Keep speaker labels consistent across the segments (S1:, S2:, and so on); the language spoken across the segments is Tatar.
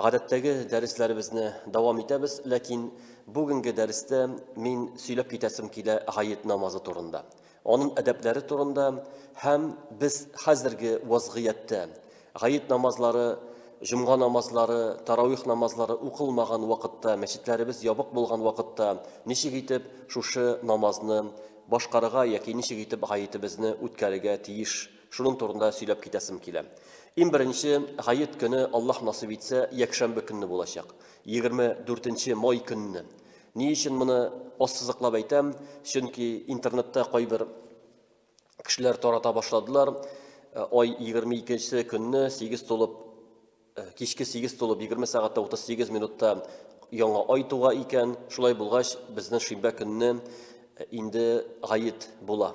S1: Гадәттәге дәресләребезне дәвам итәбез, ләкин бүгенге дәрестә мин сөйләп китәсем килә гает намазы турында, аның әдәпләре турында һәм без хәзерге вазгыятьтә гает намазлары, җомга намазлары, таравих намазлары укылмаган вакытта, мәчетләребез ябык булган вакытта ничек итеп шушы намазны башкарырга яки ничек итеп гаетебезне үткәрергә тиеш Шуның турында сөйләп китәсем килә. Иң беренче Гает көне, Аллаһ насыйп итсә, якшәмбе көнне булачак. 24 май көнне. Ни өчен моны ассызыклап әйтәм? Чөнки интернетта кайбер кешеләр тарата башладылар. Э, ай 22 көнне 8 тулып э, кичке 8 тулып 20 сәгатьтә 38 минутта яңа ай туга икән. Шулай булгач, безнең шимбә көнне э, инде гает була.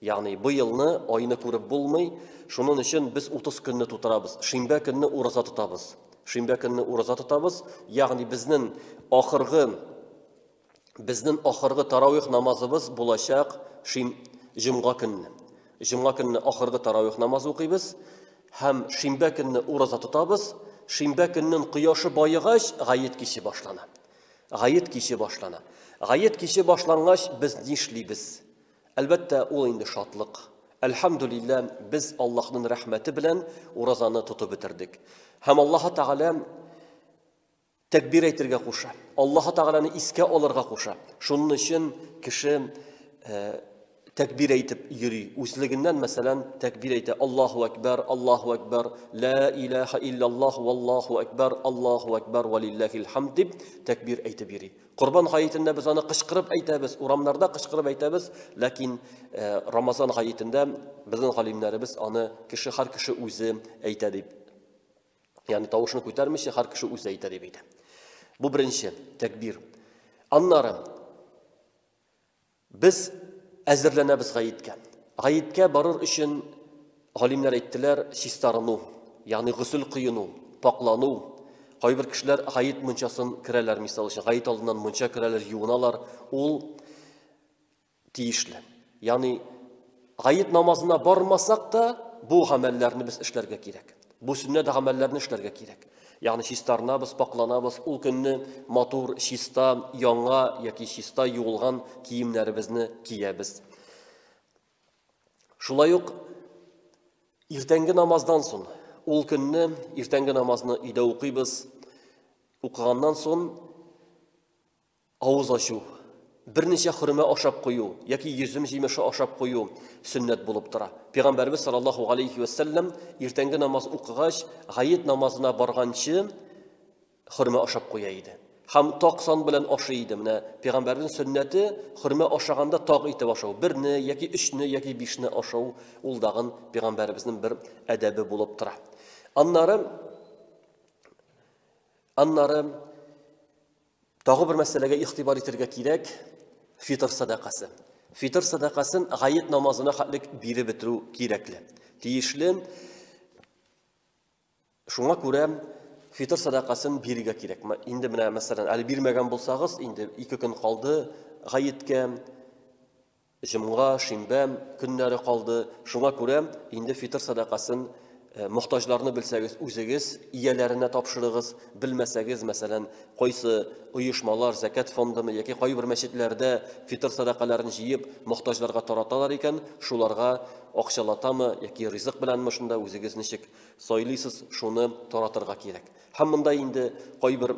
S1: Ягъни бу елны айны күреп булмый, шунын өчен без 30 көнне тутырабыз. Шимбә көнне ураза тотабыз. Шимбә көнне ураза тотабыз, ягъни безнен ахыргы безнен ахыргы таравих намазыбыз булачак шим җомга көнне. Җомга көнне ахыргы таравих намазы укыйбыз һәм шимбә көнне ураза тотабыз. Шимбә көннен кояшы баегач, гает кичи башлана. Гает кичи башлана. Гает кичи башлангач, без нишлибез? Әлбәттә, ул инде шатлык. Әлхәмдүлиллә, без Аллаһнын рәхмәте белән уразаны тотып бетердек. Һәм Аллаһы Тәгалә тәкбир әйтергә куша. Аллаһы Тәгаләне искә алырга куша. Шунын өчен кеше э, тәкбир әйтеп йөри. Үзлегеннән, мәсәлән, тәкбир әйтә. Аллаһу әкбәр, Аллаһу әкбәр, лә илаха илляллаһ, валлаһу әкбәр, Аллаһу әкбәр, валиллахил хамд дип тәкбир әйтеп йөри. Корбан гаетендә без аны кычкырып әйтәбез, урамнарда кычкырып әйтәбез, ләкин э, Рамазан гаетендә безнең галимнәребез аны кеше һәр кеше үзе әйтә дип. Ягъни тавышны күтәрмичә һәр кеше үзе әйтә дип әйтә. Бу беренче тәкбир. Аннары Без әзерләнәбез гаеткә. Гаеткә барыр өчен, галимнәр әйттеләр, чистарыну, ягъни гөсел коену, пакълану. Кайбер кешеләр гает мунчасын керәләр, мисал өчен, гает алдыннан мунча керәләр, юыналар. Ул тиешле. Ягъни Гает намазына бармасак та, бу гамәлләрне без эшләргә кирәк. Бу сөннәт гамәлләрне эшләргә кирәк. Ягъни чистарынабыз, пакланабыз, ул көнне матур, чиста, яңа яки чиста юылган киемнәребезне киябез. Шулай ук иртәнге намаздан соң, ул көнне иртәнге намазны өйдә укыйбыз. Укыганнан соң Авыз ачу, берничә хөрмә ашап кую яки йөзем җимеше ашап кую сөннәт булып тора. Пәйгамбәрбез саллаллаһу алейхи ва саллям иртәнге намаз укыгач, гаит намазына барганчы хөрмә ашап куя иде. Һәм таг сан белән ашый иде. Менә пәйгамбәрнең сөннәте хөрмә ашаганда таг итеп ашау. Берне яки өчне яки бишне ашау ул дагын пәйгамбәрбезнең бер әдәбе булып тора. Аннары аннары Тагы бер мәсьәләгә игътибар итәргә кирәк, фитр садакасы. Фитр садакасын гает намазына хәтлек биреп бетерү кирәкле. Тиешле. Шуңа күрә фитр садакасын бирергә кирәк. Инде менә мәсәлән, әле бирмәгән булсагыз, инде ике көн калды гаеткә. Җомга, шимбә көннәре калды, шуңа күрә инде фитыр сәдакасын мохтаҗларны белсәгез, үзегез ияләренә тапшырыгыз, белмәсәгез, мәсәлән, кайсы оешмалар, зәкят фондымы яки кайбер мәчетләрдә фитыр сәдакаларын җыеп, мохтаҗларга тараталар икән, шуларга акчалатамы яки ризык беләнме, шунда үзегез ничек сайлыйсыз, шуны таратырга кирәк. Һәм монда инде кайбер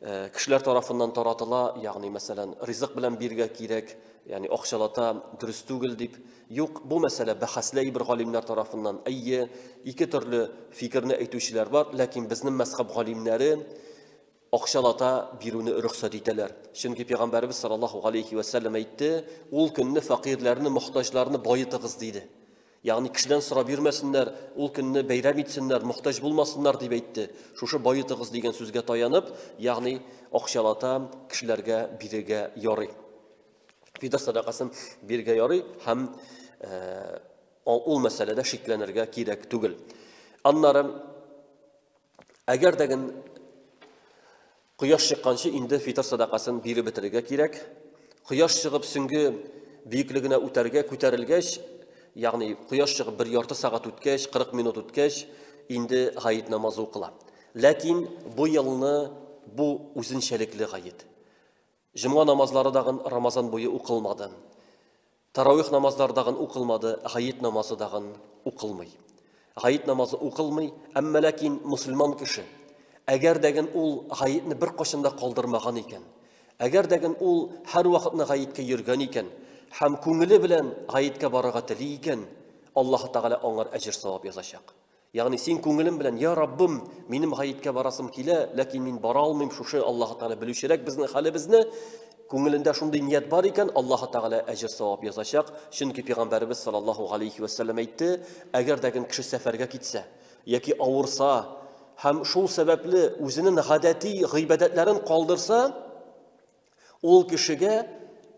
S1: Э, кешеләр тарафыннан таратыла, ягъни мәсәлән, ризык белән биргә кирәк, ягъни акчалата дөрес түгел дип. Юк, бу мәсьәлә бәхәсләй бер галимнәр тарафыннан. Әйе, ике төрле фикерне әйтүчеләр бар, ләкин безнең мәзхәб галимнәре акчалата бирүне рөхсәт итәләр. Чөнки пәйгамбәрбез саллаллаһу алейхи ва сәлләм әйтте, ул көнне фәкыйрьләрне, мохтаҗларны баетыгыз диде. Ягъни кешедән сорап йөрмәсеннәр, ул көнне бәйрәм итсеннәр, мохтаҗ булмасыннар, дип әйтте. Шушы баетыгыз дигән сүзгә таянып, ягъни акчалата кешеләргә бирергә ярый. Фидер садакасын бирергә ярый һәм ул мәсьәләдә шикләнергә кирәк түгел. Аннары әгәр дә Кояш чыкканчы инде фитыр садакасын биреп бетерергә кирәк. Кояш чыгып сөнге биеклегенә үтәргә күтәрелгәч, ягъни кояш чыгып бер ярты сәгать үткәч, 40 минут үткәч, инде гает намазы укыла. Ләкин бу елны бу үзенчәлекле гает. Җомга намазлары дагын Рамазан буе укылмады. Тарауих намазлары дагын укылмады, гает намазы дагын укылмый. Гает намазы укылмый, әмма ләкин мусульман кеше, әгәр дәген ул гаетне бер кашында калдырмаган икән, әгәр дәген ул һәр вакытны гаеткә йөргән икән, һәм күңеле белән гаеткә барырга тели икән, Аллаһ Тәгалә аңар әҗер савап язачак. Ягъни син күңелем белән, я Раббым, минем гаеткә барасым килә, ләкин мин бара алмыйм, шушы Аллаһ Тәгалә белүчерәк безнең хәлебезне. Күңелендә шундый ният бар икән, Аллаһ Тәгалә әҗер савап язачак. Чөнки пәйгамбәребез саллаллаһу алейхи ва сәлләм әйтте, әгәр дә кем кеше сәфәргә китсә яки авырса һәм шул сәбәпле үзенең гадәти гыйбадәтләрен калдырса, ул кешегә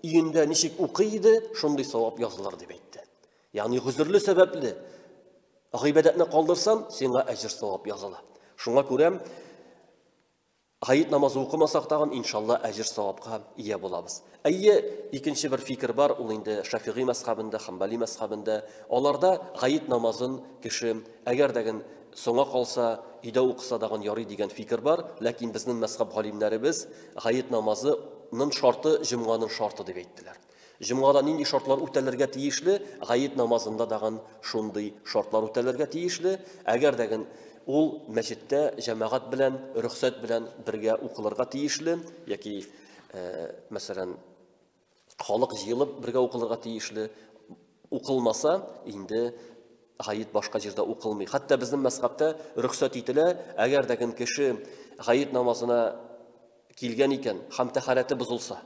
S1: өендә ничек укый иде, шундый савап язылыр дип әйтте. Ягъни гозерле сәбәпле гыйбадәтне калдырсаң, сиңа әҗер савап языла. Шуңа күрә гает намазы укымасак тагын, иншалла, әҗер савапка ия булабыз. Әйе, икенче бер фикер бар, ул инде Шафигый мәсхабында, Хамбали мәсхабында. Аларда гает намазын кеше әгәр дәген соңа калса, өйдә укыса дагын ярый дигән фикер бар, ләкин безнең мәсхаб галимнәребез гает намазы нын шарты җомганың шарты дип әйттеләр. Җомгада нинди шартлар үтәлергә тиешле, гает намазында дагын шундый шартлар үтәлергә тиешле, әгәр дәген ул мәчеттә җәмәгать белән рөхсәт белән бергә укылырга тиешле, яки, э, мәсәлән, халык җыелып бергә укылырга тиешле, укылмаса, инде гает башка җирдә укылмый. Хәтта безнең мәсхәбтә рөхсәт ителә, әгәр дәген кеше гает намазына килгән икән, хәм тәхарәте бозылса,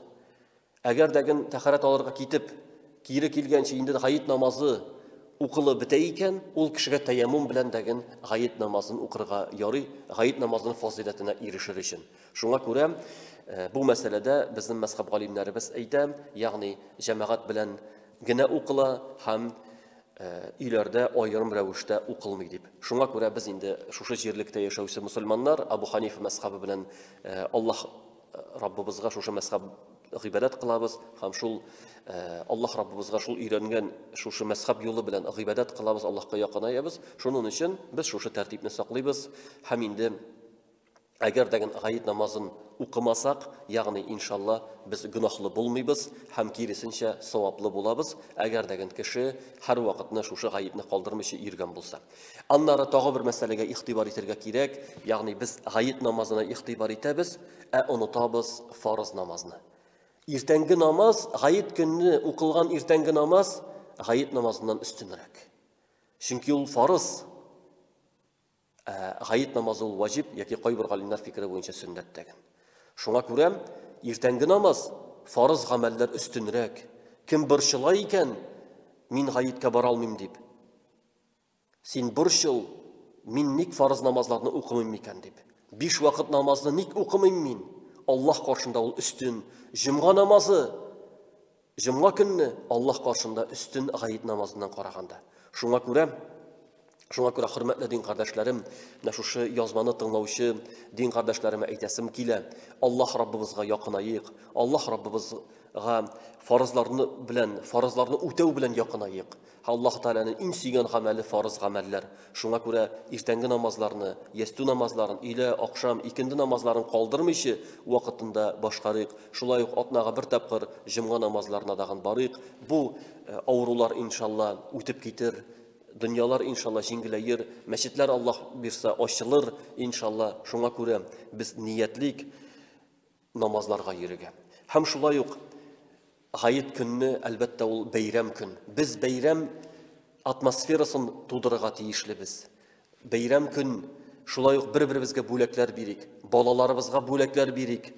S1: Әгәр дә гел тәхәрәт алырга китеп, кире килгәнче инде гает намазы укылып бетә икән, ул кешегә тәяммум белән дә гел гает намазын укырга ярый, гает намазының фазыйләтенә ирешер өчен. Шуңа күрә э, бу мәсьәләдә безнең мәзхәб галимнәребез әйтә, ягъни җәмәгать белән генә укыла һәм Э, өйләрдә аерым рәвештә укылмый дип. Шуңа күрә без инде шушы җирлектә яшәүче мусульманнар Абу Ханифа мәсхабы белән э, Аллаһ Раббыбызга шушы мәсхаб гыйбадәт кылабыз һәм шул э, Аллаһ Раббыбызга шул өйрәнгән шушы мәсхаб юлы белән гыйбадәт кылабыз, Аллаһка якынаябыз. Шуның өчен без шушы тәртипне саклыйбыз һәм инде әгәр дә гает намазын укымасак, ягъни иншалла без гөнаһлы булмыйбыз һәм киресенчә саваплы булабыз, әгәр дә кеше һәрвакытны шушы гаепне калдырмыйча йөргән булса. Аннары тагы бер мәсьәләгә игътибар итәргә кирәк, ягъни без гает намазына игътибар итәбез, ә онытабыз фарыз намазны. Иртәнге намаз, гает көнне укылган иртәнге намаз гает намазыннан өстенрәк. Чөнки ул фарыз. Ә гает намазы ул ваҗиб яки кайбер галимнәр фикере буенча сөннәт тәген. Шуңа күрә иртәнге намаз фарыз гамәлләр өстенрәк. Кем борчыла икән, мин гаеткә бара алмыйм дип, Син борчыл, мин ник фарыз намазларны укымыйм микән дип. Биш вакыт намазны ник укымыйм мин? Аллаһ каршында ул өстен. Җомга намазы җомга көнне Аллаһ каршында өстен гает намазыннан караганда. Шуңа күрә Шуңа күрә хөрмәтле дин кардәшләрем, менә шушы язманы тыңлаучы дин кардәшләремә әйтәсем килә. Аллаһ Раббыбызга якынаек. Аллаһ Раббыбызга фарызларны белән, фарызларны үтәү белән якынаек. Аллаһ Тәгаләнең иң сөйгән гамәле фарыз гамәлләр. Шуңа күрә иртәнге намазларны, ястү намазларын, өйлә, акшам, икенде намазларын калдырмыйчы, вакытында башкарыйк. Шулай ук атнага бер тапкыр җомга намазларына дагын барыйк. Бу э, авырулар, иншалла, үтеп китер. Дөньялар, иншалла, җиңгеләер. Мәчетләр, Аллаһ бирса, ачылыр, иншалла. Шуңа күрә без ниятлик. намазларга йөрергә. Һәм шулай ук Гает көнне, әлбәттә, ул бәйрәм көн. Без бәйрәм атмосферасын тудырырга тиешлебез. Бәйрәм көн шулай ук бер-беребезгә бүләкләр бирик, балаларыбызга бүләкләр бирик.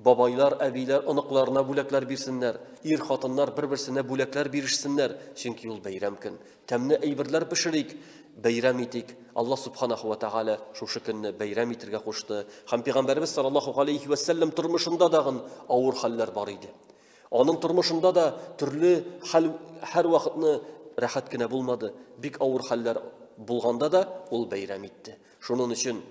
S1: Бабайлар, әбиләр оныкларына бүләкләр бирсеннәр, ир хатыннар бер-берсенә бүләкләр бирешсеннәр, чөнки ул бәйрәм көн. Тәмне әйберләр пешерик, бәйрәм итик. Аллаһ Субханаху ва Тааля шушы көнне бәйрәм итергә кушты. Һәм Пәйгамбәребез саллаллаху алейхи ва сәлләм тормышында дагын авыр хәлләр бар иде. Аның тормышында да төрле хәл һәр вакытны рәхәт кенә булмады. Бик авыр хәлләр булганда да ул бәйрәм итте. Шуның өчен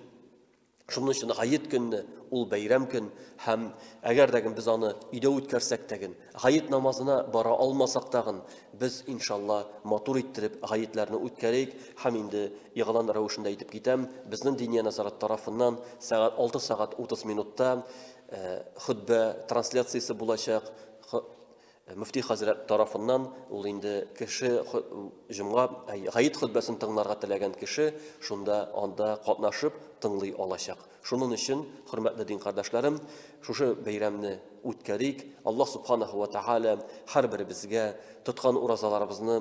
S1: Шуның өчен гает көнне ул бәйрәм көн һәм әгәр дә без аны өйдә үткәрсәк тә ген, гает намазына бара алмасак та ген, без иншалла матур иттереп гаетләрне үткәрик һәм инде игълан рәвешендә итеп китәм, безнең Диния нәзарәт тарафыннан сәгать 6 сәгать 30 минутта хөтбә трансляциясе булачак, Мөфти хәзрәт тарафыннан ул инде кеше җомга гаит хөтбәсен тыңларга теләгән кеше шунда анда катнашып тыңлый алачак. Шуның өчен, хөрмәтле дин кардәшләрем, шушы бәйрәмне үткәрик. Аллаһ субханаһу ва тааля һәрберебезгә тоткан уразаларыбызны